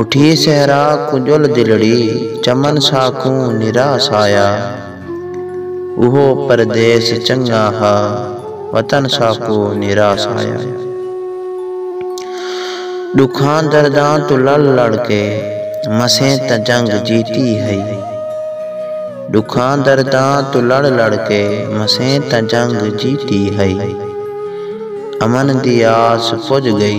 اٹھی صحرا کوں ڄل دلڑی چمن ساکوں نراس آیا اوہو پردیس چنگا ہا وطن ساکوں نراس آیا ݙکھاں درداں توں لڑ لڑ کے مسیں تاں جنگ جیتی ہئی ݙکھاں درداں توں لڑ لڑ کے مسیں تاں جنگ جیتی ہئی امن دی آس پڄ ڳئی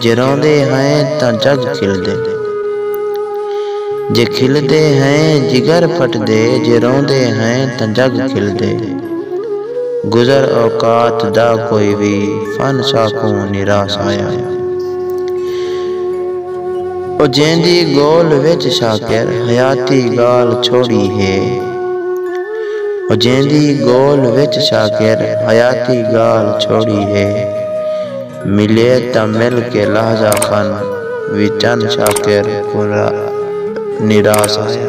جے روندے ہئیں تاں جڳ کھلدے۔ جے کھلدے ہئیں جگر پھٹدے جے روندے ہئیں تاں جڳ کھلدے۔ گزر اوقات دا کوئی وی فن ساکوں نیراس آیا۔ او جیندی ڳول وچ شاکر حیاتی ڳالھ چھوڑی ہے۔ او جیندی ڳول وچ شاکر حیاتی ڳالھ چھوڑی ہے۔ ملئے تاں مل کے لحظہ خن وی چن شاکر کوں نراس آیا۔